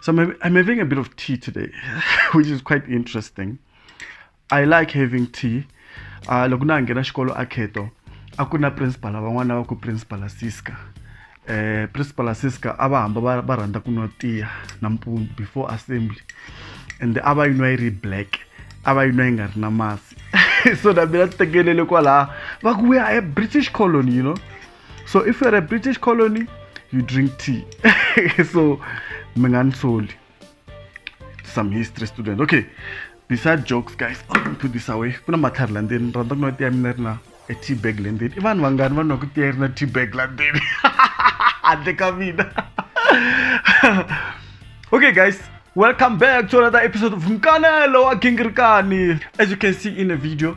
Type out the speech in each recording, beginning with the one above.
So I'm, I'm having a bit of tea today, which is quite interesting. I like having tea. Uh, loko na nghena xikolo a kheto a ku na principal van'wana va ku principal siska eh principal siska a va hamba va rhandza ku nwa tiya nampundzu before assembly and a va yi nwa yi ri black a va yi nwa yi nga ri na masi so na mina ti tekelele kwalaha va ku we are a british colony you know so if you're a british colony you drink tea so mi nga ni soli some history student okay besides jokes guys i'm put this away kuna matlhari la ndzeni rhandza ku nwa tiya mina ri na a tea bag le ndzeni i vanhu vangani va nwaka tiya ri na tea bag la ndzeni handle ka mina okay guys welcome back to another episode of mkanelo wa gingirikani as you can see in the video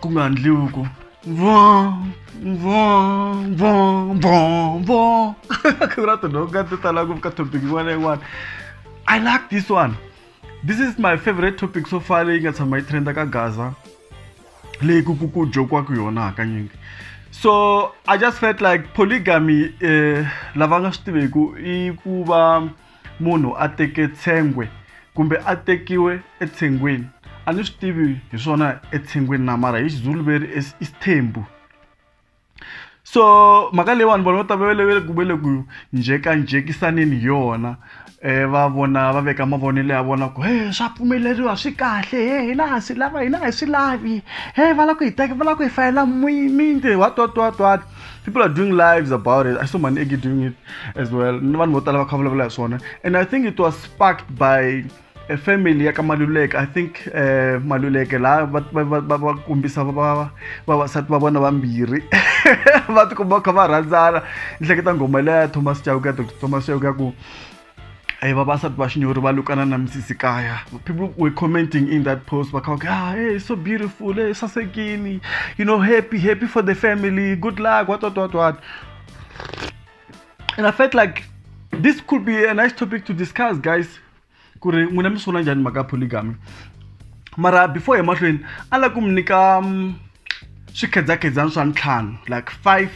ku nga ndluku vo vo vo vo vo ku ra tinhoka ti tala ngopfu ka topic yin'wana na yin'wana i like this one this is my favorite topic so far leyi nga tshama yi trenda ka gaza leyi ku ku ku jokiwaka yona hakanyingi so i just felt like polygamy eh, lava nga swi tiveku i ku va munhu a teke tshengwe kumbe a tekiwe etshengweni a ni swi tivi hi swona etshengweni na mara hi xizulu veri i sithembu so mhaka leyi vanhu vanhu va ta velevele ku vele ku njhekanjhekisaneni hi yona um va vona va veka mavonelo ya vona ku he swa pfumeleriwa swi kahle he hina ha swi lava hina a hi swi lavi he va lava ku hi teka va lava ku hi fayela muyimiti what what what what people are doing lives about it i saw manegi doing it as well ni vanhu vo tala va kha vulavula hi swona and i think it was sparked by a family ya ka maluleke i think uh, maluleke laha va kombisa vavasati va vona vambirhi va tikomba va kha va rhandzana ni hleketa nghoma leya thomas chauke ya thomas chauke ya ku Hey, vavasati va xinyori va lukana na misisi kaya people were commenting in that post va kha va ah, hey, so beautiful hey, sasekini you know happy happy for the family good luck what what what what and i felt like this could be a nice topic to discuss guys ku ri n'wina mi sungula njhani mhaka polygamy mara before hi mahlweni a la ku mi nyika mm, swikhedzakhedzana swa ntlhanu like five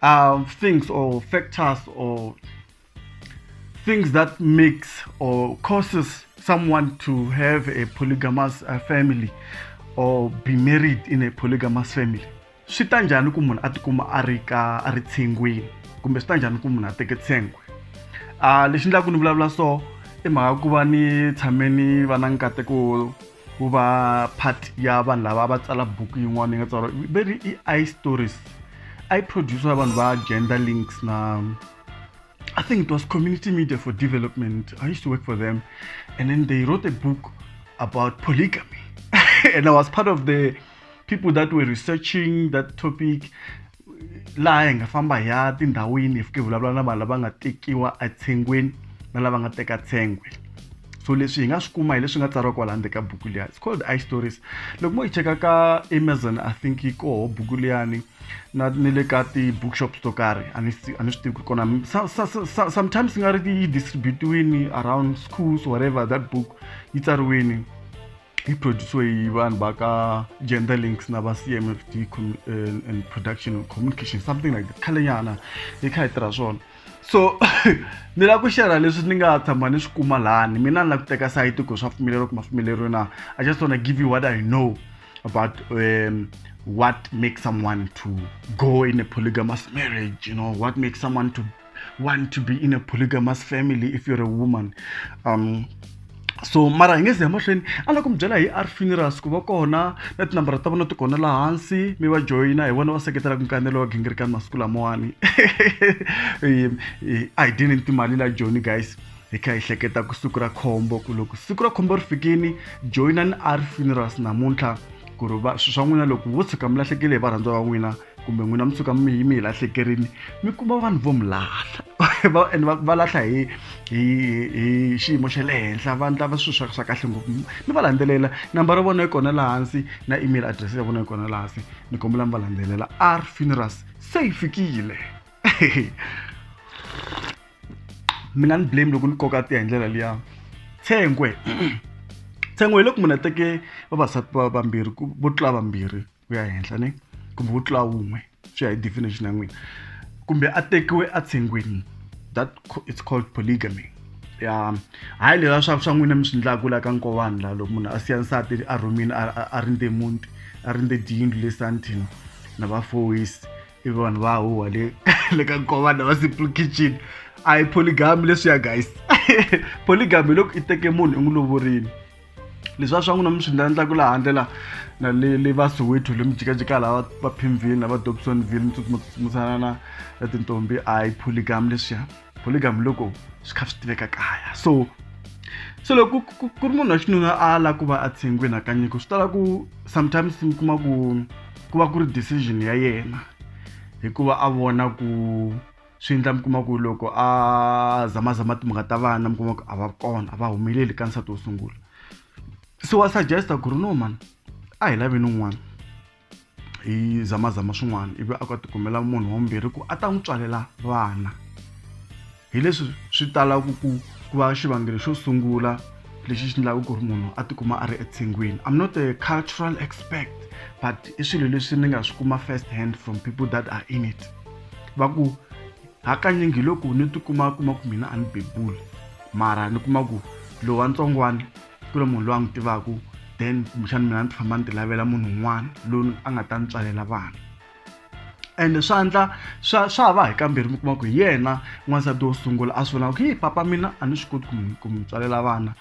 um, things or factors or things that makes or causes someone to have a polygamous uh, family or be married in a polygamous family swi ta njhani ku munhu a tikuma a ri ka a ri tshengwini kumbe swi ta njhani ku munhu a teke tshengwe a ah, lexi ndlaku ni vulavula so i mhaka ku va ni tshame ni va na nkateko ku va part ya vanhu lava va tsala buku yin'wana yi nga tsariwa veri i i stories i producer vanhu va gender links na I think it was Community Media for Development. I used to work for them, and then they wrote a book about polygamy, and I was part of the people that were researching that topic laha hi nga famba hi ya tindhawini hi fike vulavula na vanhu lava nga tekiwa etshengweni na lava nga teka tshengwe so leswi hi nga swi kuma hi leswi nga tsariwa kwala handle ka buku liya it's called i stories loko mo yi cheka ka amazon i think yi koho buku liyani na ni le ka ti-bookshops to karhi a ni a ni swi tivi ku ri kona sometimes nga ri yi distributiwini around schools whatever that book yi tsariwini yi produciwe hi vanhu va ka gender links na va c m f d eh, and production communication something like that khalenyana hi kha hi tirha swona so ni lava ku xerha leswi ni nga tshama ni swi kuma lani mina ni lava ku teka sayiti ku swa pfumeleriwa ku ma pfumeleriwa na i just wanna give you what i know about um, what makes someone to go in a polygamous marriage you know what makes someone to want to be in a polygamous family if you're a woman um, so mara hi nge ze emahlweni a lava ku mi byela hi r funerals ku va kona na tinambara ta vona ti kona laha hansi mi va joyina hi vona va seketelaka nkanelo wa gingirikani masiku lamawani a hi dyeni ni timali la joni guys hi kha hi hleketa ku siku ra khombo ku loko siku ra khombo ri fikini joyinani a ri funerals namuntlha ku ri va swilo swa n'wina loko vo tshuka mi lahlekele hi varhandziwa va n'wina kumbe n'wina mi tshuka mi yi mi hi lahlekerini mi kuma vanhu vo mi lahla and va lahla hi hi hi xiyimo xa le henhla va ndlava swilo swa swa kahle ngopfu mi va landzelela nambara ya vona yi kona laha hansi na email address ya vona yi kona laha hansi ni kombela mi va landzelela r funerals se yi fikile mi nga ni blame loko ni koka tiya hi ndlela liya tshengwe tshengwe hi loko munhu a teke vavasati va vambirhi vo tlula vambirhi ku ya henhla ni kumbe vo tlula wun'we swi ya hi definition ya n'wina kumbe a tekiwe a tshengweni that it's called polygamy ya hayi lela swa swa n'wina mi swi ndlaku la ka nkowani la loko munhu a siya nsati a rhumini a rindze muti a rindze diyindlu le sandton na vafoyisi i vanhu va huwa le le ka nkovana wa simple kitchen a hi polygamy leswiya guys polygamy hi loko i teke munhu i n'wi lovorini leswi a swa n'wina mi swi ndlandlaku laha handle la na le le va soweto le mi jikajika laha va pimville na va dobsonville mi tsutsumutsutsumutsanana na tintombi a hi polygamy leswiya polygam loko swi kha swi tiveka kaya so so loko ku ri munhu wa xinuna a la ku va a tshengwini hakanyiko swi tala ku sometimes mi kuma ku ku va ku ri decision ya yena hikuva a vona ku swi endla mi kuma ku loko a zamazama timhaka ta vana mi kuma ku a va kona a va humeleli ka nsati wo sungula so wa suggesta ku ri no mani a hi laveni un'wana hi zamazama swin'wana ivi a ku a tikumela munhu wambirhi ku a ta n'wi tswalela vana hi leswi swi talaka ku ku va xivangelo xo sungula lexi xi endlaka ku ri munhu a tikuma a ri etshengwini i'm not a cultural expert but i swilo leswi ni nga swi kuma first hand from people that are in it va ku hakanyingi loko ni tikuma kuma ku mina a ni bebuli mara ni kuma ku lowantsongwana ku ri munhu loyi a n'wi tivaka then kumbexana mina ni ti famba ni ti lavela munhu un'wana loyi a nga ta ni tswalela vana ende swa endla swa swa va hi kambirhi mi kuma ku hi yena n'wansati wo sungula a swi vulaka ku hi papa mina a ni swi koti ku ku mi tswalela vana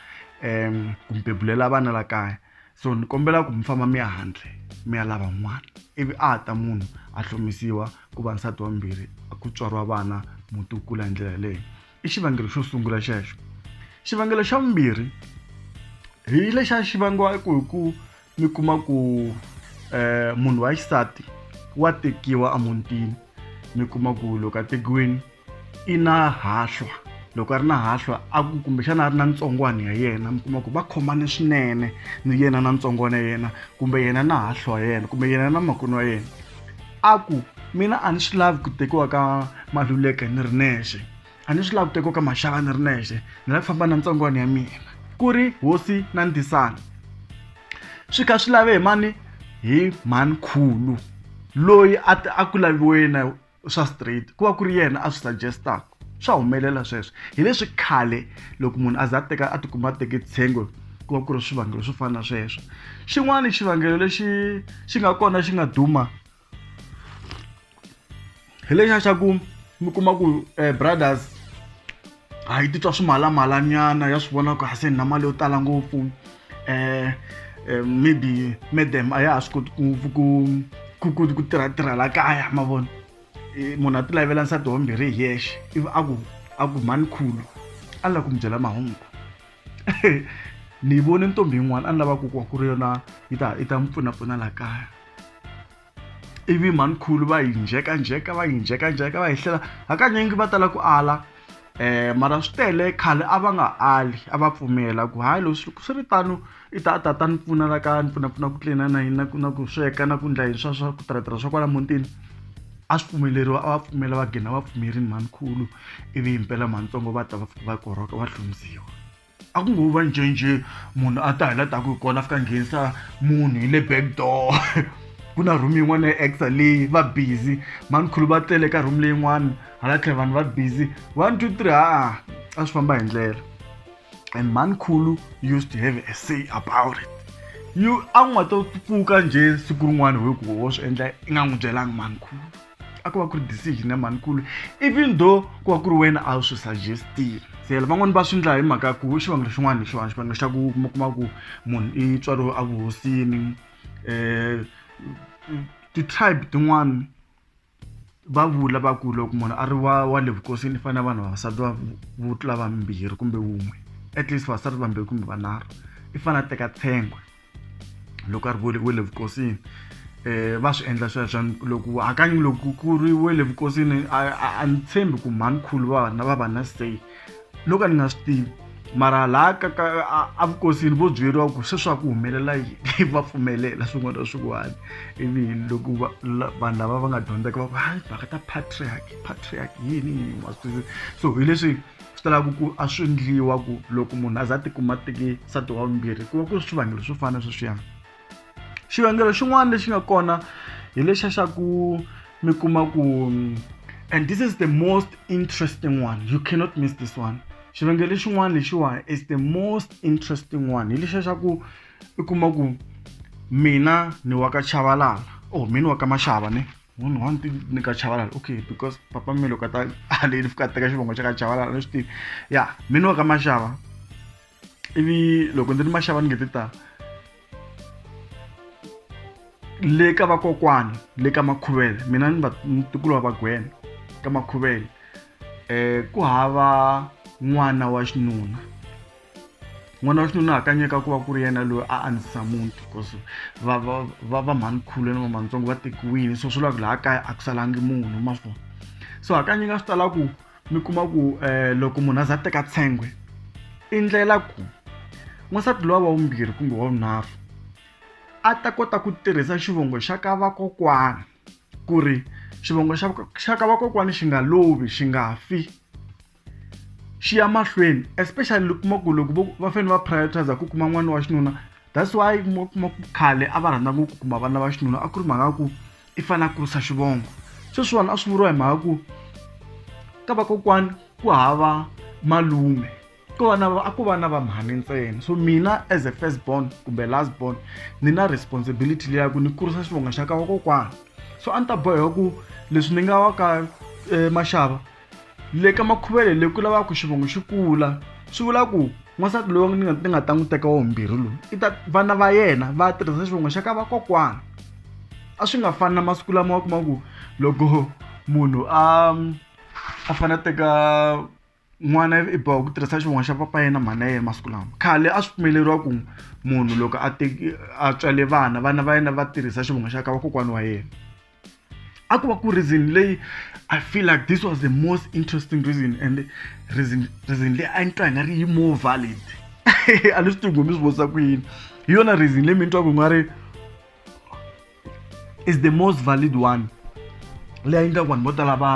um ku mi bebulela vana la kaya so ni kombela ku mi famba mi ya handle mi ya lava n'wana ivi a ta munhu a hlomisiwa ku va nsati wambirhi ku tswariwa vana muti wu kula hi ndlela yeleyo i xivangelo xo sungula xexo xivangelo xa vumbirhi hi lexa xi vangiwa ku hi ku mi kuma ku um munhu wa xisati wa tekiwa emutini mi kuma ku loko a tekiwini i na hahlwa loko a ri na hahlwa a ku kumbexana a ri na ntsongwana ya yena mi kuma ku va khomane swinene ni yena na ntsongwana ya yena kumbe yena na hahlwa ya yena kumbe yena na makwerhu wa yena a ku mina a ni swi lavi ku tekiwa ka maluleke ni ri nexe a ni swi lavi ku tekiwa ka maxaka ni ri nexe ni lava ku famba na ntsongwana ya mina ku ri hosi na ndzisana swi kha swi lave hi mani hi mhani khulu loyi a a ku laviwe na swa straight ku va ku ri yena a swi suggestaka swa humelela sweswo hi leswi khale loko munhu a za a teka a tikuma a teke tshengo ku va ku ri swivangelo swo fana na sweswo xin'wana xivangelo lexi xi nga kona xi nga duma hi lexa xa ku mi kuma ku eh, brothers a yi titwa swimalamalanyana ya swi vona ku hase ni na mali yo tala ngopfu um maybe madam a ya ha swi koti ku ku ku ku ku tirha tirha la kaya ma vona munhu a ti lavela nsati wa mbirhi hi yexe ivi a ku a ku mhani khulu a lava ku mi byela mahungu ni vone ntombi yin'wana a ni lava ku kuwa ku ri yona yi ta yi ta mi pfunapfuna laha kaya ivi mhani khulu va yi njhekanjheka va yi njhekanjheka va yi hlela hakanyingi va tala ku ala um mara swi tele khale a va nga ali a va pfumela ku hayi loko swi swi ri tano i ta a ta ta ni pfuna la kaya ni pfunapfuna ku tlilina na yini na ku na ku sweka na ku ndla yini swa swa ku tirhatirha swa kwala mutini a swi pfumeleriwa a va pfumela va gina va pfumerini mhani khulu ivi himpela mhani ntsongo va ta va fika va korhoka va hlundziwa a ku ngo va ncenje munhu a ta hi la ta ku hi kona a fika nghenisa munhu hi le back door ku na room yin'wana ya exa leyi va busy manikhulu va tele ka room leyin'wana hala tlhela vanhu va busy one two three haa a swi famba hi ndlela and manikhulu used to have a say about it you a n'wi nga to pfuka njhe siku rin'wana hi ku wo swi endla i nga n'wi byelanga manikhulu a ku va ku ri decision ya manikulu even though ku va ku ri wena a wu swi suggestile se van'wani va swi ndla hi mhaka ya ku xivangelo xin'wana hi xin'wana xivangelo xa ku kuma kuma ku munhu i tswariwe a vuhosini um ti-tribe tin'wani va vula va ku loko munhu a ri wa wa le vukosini i fanele vanhu vavasati va vo tlula vambirhi kumbe wun'we at least vavasati vambirhi kumbe vanharhu i fanele a teka tshengwe loko a ri we le vukosini um va swi endla sweswo loko hakanyi loko ku ri we le vukosini a ni tshembi ku mhanikhulu va vana va va na stay loko a ni nga swi tivi mara laha ka ka a vukosini vo byeriwa ku sweswi a ku humelela yini va pfumelela swin'wana na swin'wana ivi loko vanhu lava va nga dyondzeka va ku hayi mhaka ta patriarch patriarch yini yini wa swi twisisa so hi leswi swi talaka ku a swi ndliwa ku loko munhu a za a tikuma teki nsati wa vumbirhi ku va ku ri swivangelo swo fana sweswiyani xivangelo xin'wana lexi nga kona hi lexa xa ku mi kuma ku and this is the most interesting one you cannot miss this one xivangelo xin'wana lexiwa is the most interesting one hi lexa xa ku i kuma ku mina ni wa ka chavalala or oh, mina wa ka maxava ne munhu wa nti ni ka chavalala okay because papa mi loko a ta haleni fika a teka xivongo xa ka chavalala ni swi tivi ya mi ni wa ka maxava ivi loko ndzi ri maxava ni nge ti ta le ka vakokwani le ka makhuvele mina ni vatukulu va vagwena ka makhuvele um ku hava n'wana wa xinuna n'wana wa xinuna hakanyeka ku va ku ri yena loyi a andzisa muti because va va va va mhanikhulu na vamantsongo va tekiwile so swi lava ku laha kaya a ku salangi munhu ma fona so hakanyeka swi tala ku mi kuma ku um loko munhu a za teka tshengwe i ndlela ku n'wansati lowa wa vumbirhi kumbe wa vunharhu a ta kota ku tirhisa xivongo xa ka vakokwana ku ri xivongo xa xa ka vakokwana xi nga lovi xi nga fi xiya mahlweni especially kuma ku loko va fanele va prioritize ku kuma n'wana wa xinuna that's why kuma kuma ku khale a va rhandza ngopfu ku kuma vana va xinuna a ku ri mhaka ku i fanele a kurisa xivongo sweswiwani a swi vuriwa hi mhaka ku ka vakokwani ku hava malume ko va na a ko va na vamhani ntsena so mina as a first born kumbe last born ni na responsibility leya ku ni kurisa xivongo xa ka vakokwana so a ni ta boheka ku leswi ni nga wa ka eh, maxava le ka makhuvele le ku lavaka ku xivongo xi kula swi vula ku n'wansati loyi ni nga ni nga ta n'wi teka wavumbirhi loyi i ta vana va yena va tirhisa xivongo xa ka vakokwana a swi nga fani na masiku lama wa kuma ku loko munhu a a fanele a teka n'wana i boha ku tirhisa xivongo xa papa yena mhana yena masiku lama khale a swi pfumeleriwa ku munhu loko a teki a tswale vana vana va yena va tirhisa xivongo xa ka vakokwana wa yena. a ku va ku reason leyi i feel like this was the most interesting reason and reason reason leyi a ni twa hi nga ri yi more valid a ni swi tivi ku mi swi vutisa ku yini hi yona reason leyi mi ni twaku hi nga ri is the most valid one leyi a yi ndlaku vanhu vo tala va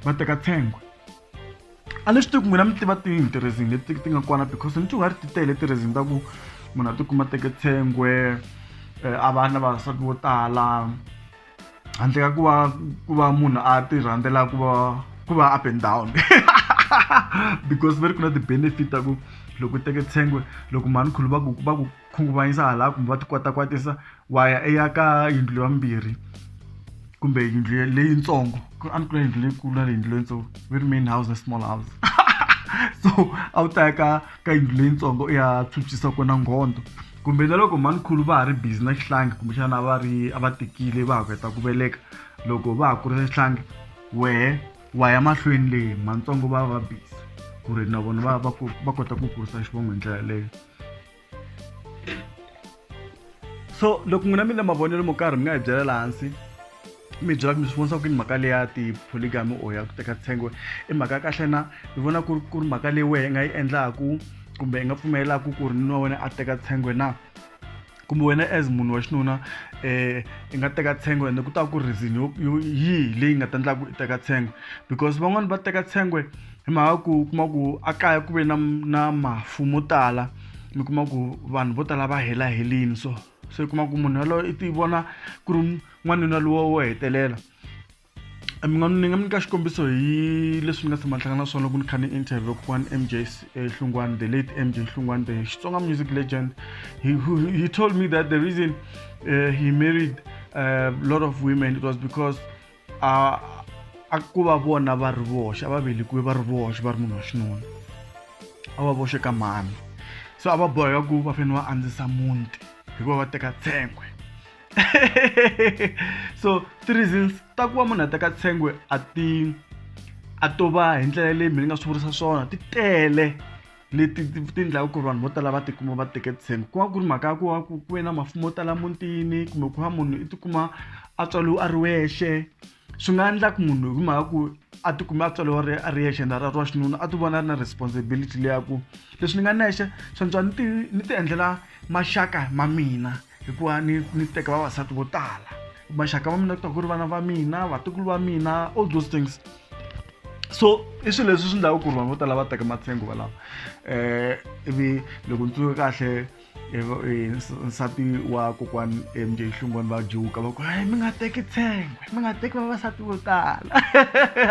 va teka tshengwe a ni swi tivi ku n'wina mi tiva tihi tirhezini leti ti nga kona because ni tiwari ti tele tirhezini ta ku munhu a tikuma teke tshengwe eh, a va na vavasati vo tala handle ka ku va ku va munhu a ti rhandzela ku va ku va up and down because va ri ku na ti-benefit ta ku loko u teke tshengwe loko mhani khulu va ku va ku khunguvanyisa hala kumbe va ti kota kwatisa wa ya eya ka yindlu ya mbirhi kumbe yindlu leyitsongo a ni kula yindlu leyikulu na leyindlu leyitsongo ve ri main house na small house so a wu ta ya ka ka yindlu leyitsongo i ya phyuphyisa kona nghondo kumbe na loko manikhulu va ha ri busy na xihlangi kumbexana va ri a va tekile va ha ku heta ku veleka loko va ha kurisa xihlangi wehe wa ya mahlweni leyi mantsongo va va busy ku ri na vona va va va kota ku kurisa xivongo hi ndlela yaleyo so loko n'wina mi le mavonelo mo karhi mi nga hi byelela hansi mi byela mi swi vonisa ku yini mhaka leyi ya tipholigami or ya ku teka tshengwe i mhaka ya kahle na mi vona ku ri ku ri mhaka leyi wehe nga yi endlaku kumbe i nga pfumelelaku ku ri nuna wena a teka tshengwe na kumbe wena as munhu wa xinuna um i nga teka tshengwe ende ku ta ku reason yo yo yihi leyi nga ta endla ku i teka tshengwe because van'wani va teka tshengwe hi mhaka ku u kuma ku a kaya ku ve na na mafu mo tala mi kuma ku vanhu vo tala va hela helini so se u kuma ku munhu yaloye i ti vona ku ri n'wanuna lowa wo hetelela Eh, mi nga ni nga mi nyika xikombiso hi leswi ni nga tshama ni hlangana na swona loko ni kha ni interview kokwani mj eh, hlungwani the late mj hlungwani the xitsonga music legend he, he, he told me that the reason uh, he married a eh, lot of women it was because uh, a ku va vona va ri voxe a va velekiwe va ri voxe va ri munhu wa xinuna a va voxe ka mhani so a va boheka ku va fanele va andzisa muti hikuva va teka tshengwe so ti reasons ta ku va munhu a teka tshengwe a ti a to va hi ndlela leyi mina ni nga swi vurisa swona ti tele leti ti endlaka ku ri vanhu vo tala va tikuma va teke tshembe ku va ku ri mhaka ya ku va ku ku ve na mafumo yo tala mutini kumbe ku va munhu i tikuma a tswariwe a ri wexe swi nga endla ku munhu hi mhaka ku a ti kume a tswariwa ri a ri yexe na ra wa xinuna a ti vona a ri na responsibility leya ku leswi ni nga nexe swantswa ni ti ni ti endlela maxaka ma mina hikuva ni ni teka vavasati vo tala maxaka ma mina ku ta ku ri vana va mina vatukulu va mina all those things so i swilo leswi swi endlaka ku ri vanhu vo tala va teka matsengo valava um ivi loko ni tsundzuke kahle nsati wa kokwani mj hlungwani va juka va ku hayi mi nga teki tshengwe mi nga teki vavasati vo tala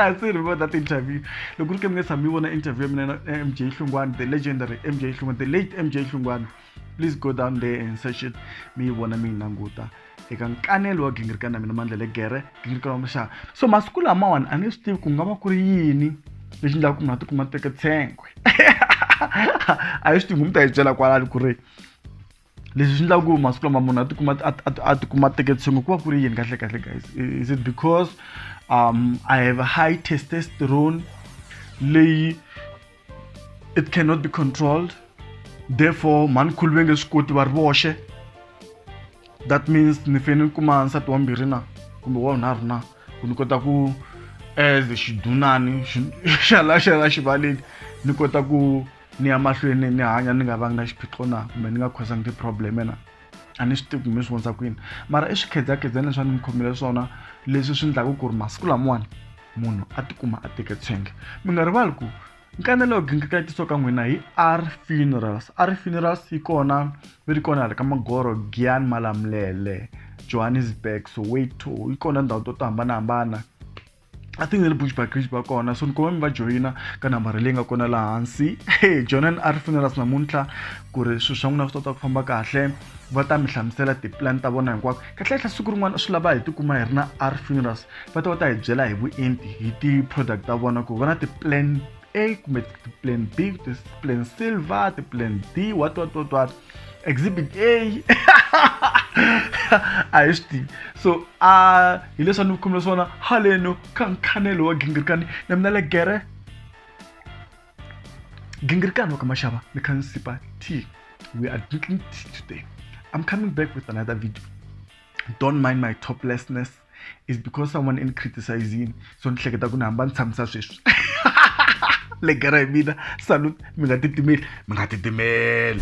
a swi ri vona ti-interview loko ri ke mi nge tshami yi vona interview ya mina mj hlungwani the legendary mj hlungwani the late mj hlungwani please go down there and search it mi yi vona mi yi languta eka nkanelo wa gingirikani na mina mandla le gere gingirikani wa muxaka so masiku lamawani a ni swi tivi ku nga va ku ri yini lexi ndlaka ku munhu a tikuma teke tshengwe a yi swi tivi mu ta yi byela kwalani ku ri leswi swi endlaka ku masiku lama munhu a tikuma a tikuma a teke tshengwe ku va ku ri yini kahle kahle guys is it because um i have a high testosterone leyi it cannot be controlled therefore mhani khulu ve nge swi koti va ri voxe that means ni fanele ni kuma nsati wa mbirhi na kumbe wa vunharhu na ku ni kota ku as xidunani xa la xa la xivaleni ni kota ku ni ya mahlweni ni hanya ni nga vangi na xiphiqo na kumbe ni nga khosanga ti-problem-e na a ni swi tivi kumbe swi vonisa kwini mara i swikhedzakhedzani leswi a ni mi khomile swona leswi swi endlaka ku ri masiku lamawani munhu a tikuma a teke tshenge mi nga rivali ku nkanelo yo gingikatisa ka n'wina hi r funerals r funerals yi kona yi ri kona hala ka magoro gian malamulele johannesburg soweto yi kona ndhawu to to hambanahambana I think ni ri Bushbuck Ridge va kona so ni kuma mi va joyina ka nambara leyi nga kona laha hansi hey jonan a ri funeras namuntlha ku ri swilo swa n'wina swi tota ku famba kahle va ta mi hlamusela tipulani ta vona hinkwako kahlekahle siku rin'wana swi lava hi tikuma hi ri na a ri funeras va ta va ta hi byela hi vuenti hi ti-product ta vona ku va na ti-plan a kumbe ti-plan b ti-plan silver ti-plan d what what what what exhibit a a hi swi tivi so a hi leswi a ni khumile swona haleno ka nkhanelo wa gingirikani na mina le gere gingirikani wa ka maxava ni kha ni sipa t we are drinking tea today i'm coming back with another video don't mind my toplessness is because someone in criticizing so ni hleketa ku ni hamba ni tshamisa sweswi le gara hi mina salute mi nga titimeli mi nga titimeli